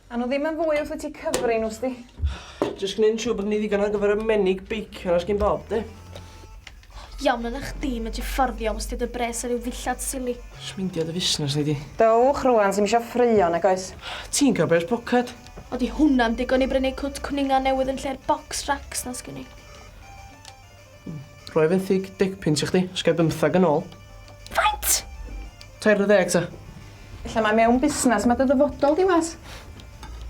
A nhw ddim yn fwy wrth i ti cyfri nhw, sdi? Just gwneud yn siŵr bod ni ddigon ar gyfer y menig beicio na sgyn bob, di? Iawn yna chdi, mae ti fforddio os ti dy bres ar ryw ddillad sili. Smindio dy fusnes ni di. Dowch rwan, sy'n misio ffrio, nag oes? Ti'n cael bres poced. O di hwnna'n digon i brynu cwt cwninga newydd yn lle'r box racks na sgyn i? Rhoi fenthyg dick pins i chdi, os gai bymthag yn ôl. Faint? Tair ar ddeg ta. Ella mae mewn busnes, mae dy ddyfodol di was.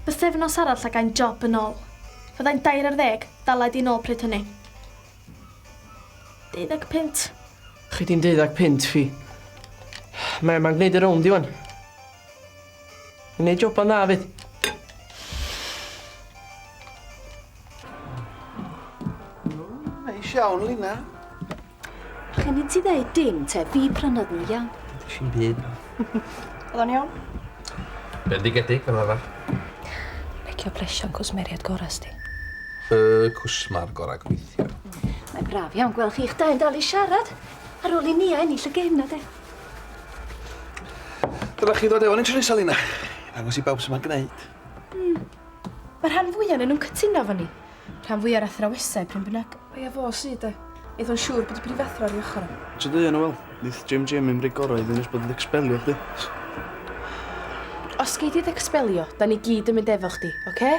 Bythefnos arall a gai'n job yn ôl. Fyddai'n dair ar ddeg, dalai di nôl pryd hynny. Deuddeg punt. Chi di'n deuddeg punt fi. Mae yma'n gwneud y rownd i wan. Yn ei joban dda fyd. Neis iawn, Lina. Chi'n i ti ddeud dim, te, fi prynodd nhw iawn. Si'n byd. Oedd o'n iawn? Bendigedig, fel arfer. Pecio presio'n cwsmeriad gorau sti. Y cwsmar gorau gweithio. Mae'n braf iawn gweld chi'ch dau yn dal i siarad. Ar ôl i Nia ennill y gêm na de. Dylech chi ddod efo ni Tresalina. Salina. Ddangos i bawb sut mae'n gwneud. Hmm. Mae rhan fwy o'n nhw'n cytuno efo ni. Rhan fwy o'r athrawesau, pryn bynnag. Mae efo o sydd e. Eith o'n siŵr bod y brifathro ar ei ochr o. Ti'n dweud yna, wel, nith Jim Jim i'n rei gorau iddyn nes bod yn expelio chdi. Os gei di ddecspelio, da ni gyd yn mynd efo chdi, oce? Okay?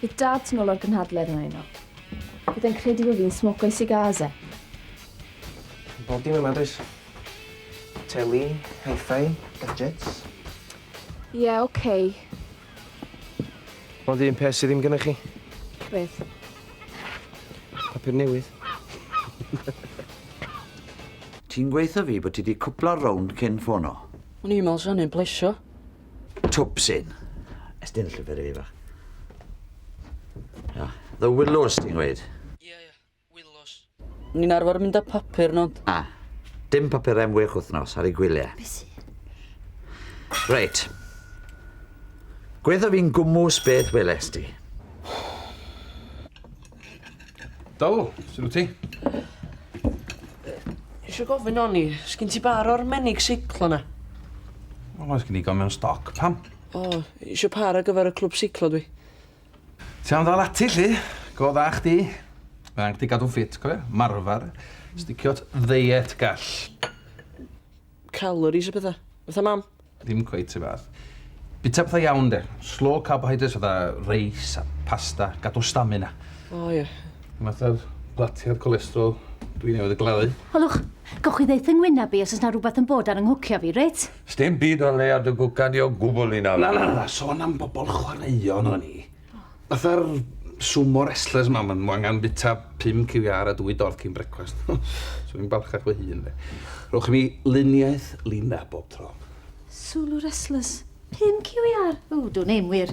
Bydd dad yn ôl o'r gynhadledd yna yno. Bydd e'n credu bod fi'n smoco i cigars e. Bob dim yma, does? Teli, hi-fi, gadgets. Ie, yeah, oce. Okay. Ond un peth sydd ddim gyda chi. Beth? Papur newydd. Ti'n gweithio fi bod ti di cwpla rownd cyn ffono. O'n i'n meddwl sa hynny'n plesio. Twpsyn. Estyn y llyfr i fi fach. The Willows ti'n gweud? Ie, ie. Wilws. Ni'n arfer mynd â papur nod. Na. Dim papur am wech wythnos ar ei gwyliau. Be sy? Reit. Gwyddof fi'n gwmws beth weles di. Do, sy'n wyt ti? Eisiau gofyn o'n i, sgyn ti bar o'r menig seiclo na? Wel, oes gen i gomion stoc, pam? O, eisiau par ar gyfer y clwb seiclo dwi. Ti am ddal ati 'lly? Go dda chdi. Mae angen chdi gadw'n ffit, cofia, marfar, sticio at ddeiet gall. Calories a petha. Fatha mam. Ddim cweit 'r un fath. Bita petha iawn 'de. Slow carbohydrates fatha reis a pasta, gadw stamina. O ia. Dim fatha'r blatiad cholesterol dwi newydd ei gladdu. Hylwch, gewch chi ddeutha ngwynab i os oes 'na rwbath yn bod ar 'y nghwcio fi, reit? Sdim byd o'r leia dy gwcan di o gwbl i nawr. Na na na, sôn am bobl chwaraeon o'n i. Fatha'r sumo wrestlers ma, ma nhw angen bita pum ciwiâr a dwy dorth cyn brecwast. Swn i'n balchach fy hun de. Rhowch i mi luniaeth Lina bob tro. Sulu wrestlers? Pum ciwiâr? Ww, dwn i'm wir.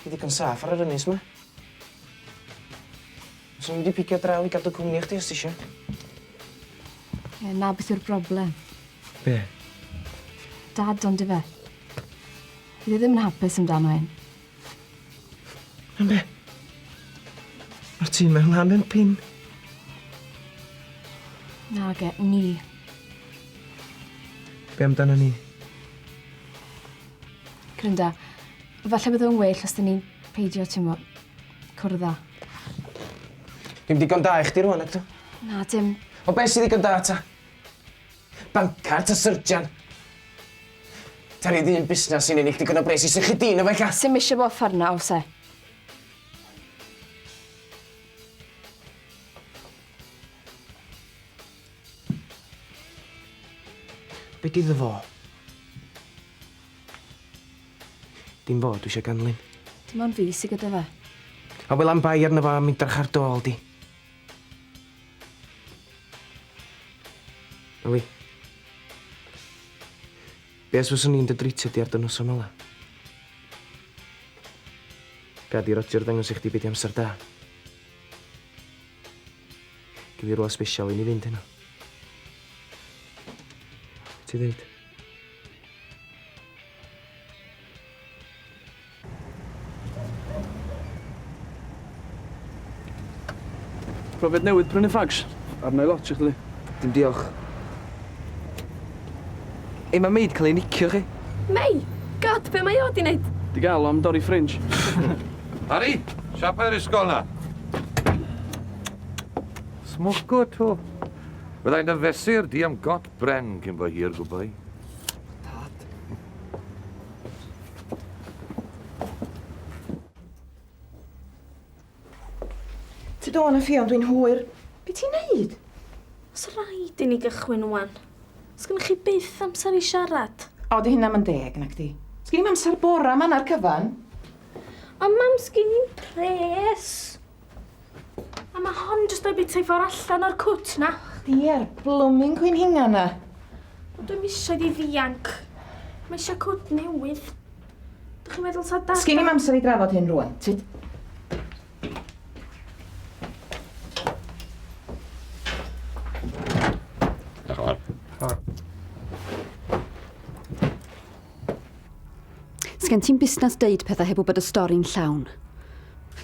Ti ddigon saff ar yr ynys 'ma. Fyswn i wedi picio draw i gadw cwmni i chdi os tisio. Ie, 'na beth yw'r broblem. Be'? Dad ond ife. Fydd e ddim yn hapus amdano hyn. Am be'? Ma'r tŷ 'ma lan yn pin. Nage, ni. Be' amdana ni? Clynda, Falle bydde fe'n well os dyn ni'n peidio, ti'n mo, cwrdd â. Dim digon da i chdi rwan, ydw? Na, dim. O beth sydd ddigon da ta? Bancar ta syrjan? Ta rhydd un busnes sy'n ennill digon o bres i sychu dyn o fe lla? Sim eisiau bod ffarna, os e. Be di ddo fo? Dim fo dwi eisiau ganlyn. Dim ond fi sy gyda fe. A wel am bai arno fo am idrach ar dôl di. Ellie. Be os fyswn i'n dy dritio di ar dy noson ola? Gad i Roger ddangos i chdi be di amser da. Gyd i rwla special i ni fynd heno. Ti ddeud? Profiad newydd prynu fags. Arnau lot i chdi. Dim diolch. Ei mae Mei 'di cael ei nicio chi. Mei? God, be mae o 'di neud? Di gael o am dorri ffrinj. Harri, siapau'r ysgol na. Smoco to. Byddai'n dy fesur di am got bren cyn bo hir gwbau. Dad. Ti do na fi ond dwi'n hwyr. Be ti'n neud? Os rhaid i ni gychwyn wan. Os gynnych chi byth amser i siarad. O, di hynna yn deg, nac di? Os gynnim amser bora man ar cyfan. Ond mam, sgyn i'n pres. A ma hon jyst o'i bita i ffwr allan o'r cwt na. Chdi a'r blooming cwyn hinga na. Ond dwi'm isio iddi ddianc. Mae eisiau cwt newydd. Dych chi'n meddwl sa dad... Sgin i'm amser i drafod hyn rwan. Ti... Sgen ti'n busnes deud pethau heb wybod y stori'n llawn.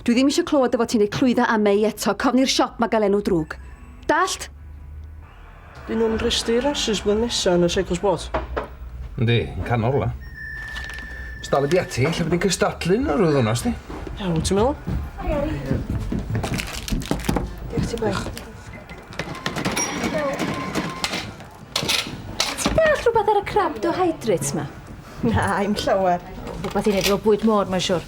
Dwi ddim eisiau clywed dy fod ti'n ei clwydda â Mei eto, cofni'r siop mae gael enw drwg. Dallt? Dyn nhw'n rhestru rasys blwyddyn nesa yn y Cycle Sport. Yndi, yn canol rwla. Os dal y di ati, lle bod ni'n cystadlu yn yr wyth hwnna, sti? Ia, wyt ti'n meddwl? Hi, Ari. Diolch ti, boi. Ti'n deall rhywbeth ar y crabdohydrates ma? Na, i'm llawer. Rhywbeth i neud efo bwyd môr, mae'n siwr.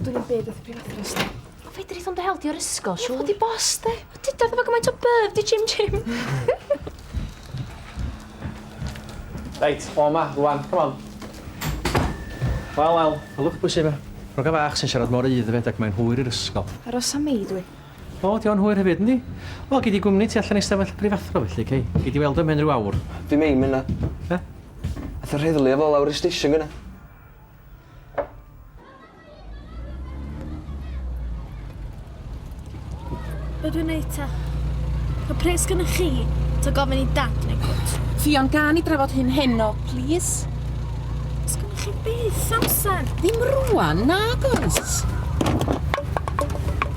Dwi'n yn byd wrth prifadr yn ystod. Fedrith o'n dehel di o'r ysgol, siwr. Di bos, de. Dyda efo gymaint o byf, di Jim Jim. Reit, o ma, rwan, come on. Wel, wel, hylwch bwysig fe. Rhoga fach sy'n siarad mor eidd y fedag mae'n hwyr i'r ysgol. Aros am mi, dwi. O, ydy o'n hwyr hefyd, yndi? Wel, gei di gwmni tu allan i stafell y prifathro felly, Kay. Gei di weld o ymhen rhyw awr. Dim eim yna. Be? Ath yr heddlu efo lawr i'r station gyna. Be dwi'n neud ta? Ca pres gyda chi, ta gofyn i dad neu gwt? Ffion, gan i drafod hyn heno, please? Os gyda chi beth amser? Ddim rwan, nagos!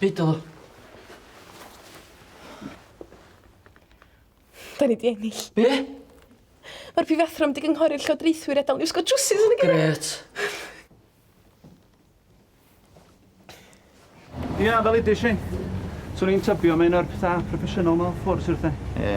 Byd o. Da ni di ennill. Be? Mae'r prifathro wedi gynghori'r llywodraethwyr edal ni wisgo trwsus yn y gyrra. Gret. Ia, fel ydy, Shane. Swn i'n tybio mae un o'r pethau proffesiynol mewn ffwrdd, sir te. Ie.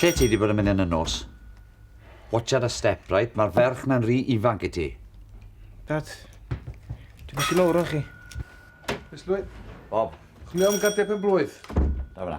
Lle ti wedi bod yn mynd yn y nos? Watch out a step, right? Mae'r ferch na'n rhi ifanc i ti. Dad, dwi'n bach yn ôl chi. Ysglwyd. Bob. Chwilio am gardiau pen blwydd. Da fyna.